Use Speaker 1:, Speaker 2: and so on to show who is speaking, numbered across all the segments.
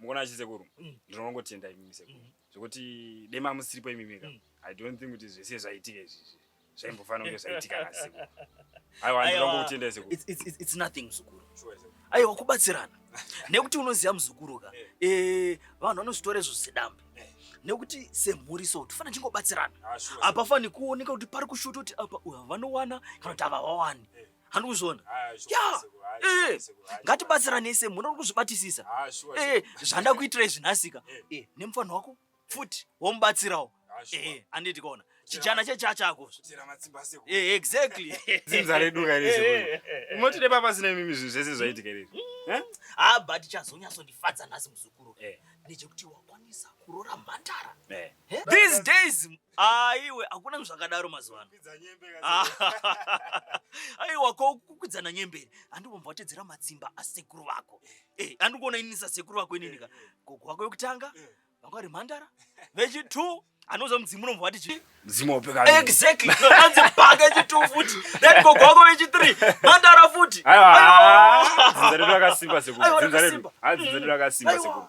Speaker 1: Mukona achi sekuru mm. ndinongotenda imimi sekuru mm. zvekuti dema musiripo imimi ka mm. i don't think kuti zvese zvaitika izvizvi zvaimbofanira kunge zvaitika na sekuru aiwa ndinongokutendai sekuru it's, it's, it's, it's nothing
Speaker 2: muzukuru sure, aiwa kubatsirana nekuti unoziva muzukuru ka eh. eh, vanhu vanozvitora izvo sedambe eh. nekuti semhuri so tofana chingobatsirana ah, hapafani kuoneka kuti pari kushuta kuti apa uyu havanowana kana kuti havawawani handikuzviona ah, ya eh, ngatibatsiranei semunhu uri kuzvibatisisa ah, eh, zvanda kuitira izvi nhasika eh. nemufanha wako futi womubatsirawo handiti kona chijana chechachako exactly dzinza
Speaker 1: redu kaunoti nepapa zina imimi zvinhu zvese zvaitika iri hmm? ha but
Speaker 2: chazonyatsondifadza nhasi muzukuru ndechekuti wakwanisa kurora mhandara these days aiwe ah, hakuna zvakadaro mazuva ano ah, aiwa ko kukwidzana nyemberi andikumbva watedzera matsimba asekuru vako eh, andikuona inini sasekuru vako inini ka eh, eh. gogo wako yokutanga vanga vari mhandara vechitu anoza mudzimu unombva wati chii mudzimu wopeka
Speaker 1: exactly anzi
Speaker 2: paka chitu futi then gogo wako vechithree mhandara futi aiwa dzinza
Speaker 1: redu rakasimba sekuru dzinza redu dzinza redu rakasimba sekuru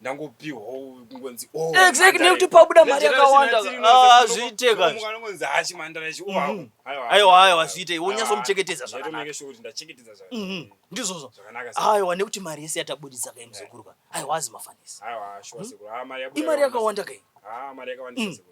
Speaker 1: ndangopihwawo kungonzi oh, exactly nekuti
Speaker 2: pabuda mari yakawanda ah, zviite kanongonzi hachi
Speaker 1: mandara ichi oh, mm-hmm. aiwa aiwa
Speaker 2: zviite wonyatsomuchengetedza mm-hmm.
Speaker 1: ndizvozvo
Speaker 2: aiwa
Speaker 1: nekuti mari yese
Speaker 2: yatabudisa kai muzukuru ka aiwa azi mafanisi hmm?
Speaker 1: imari yakawanda
Speaker 2: kai ah, mm.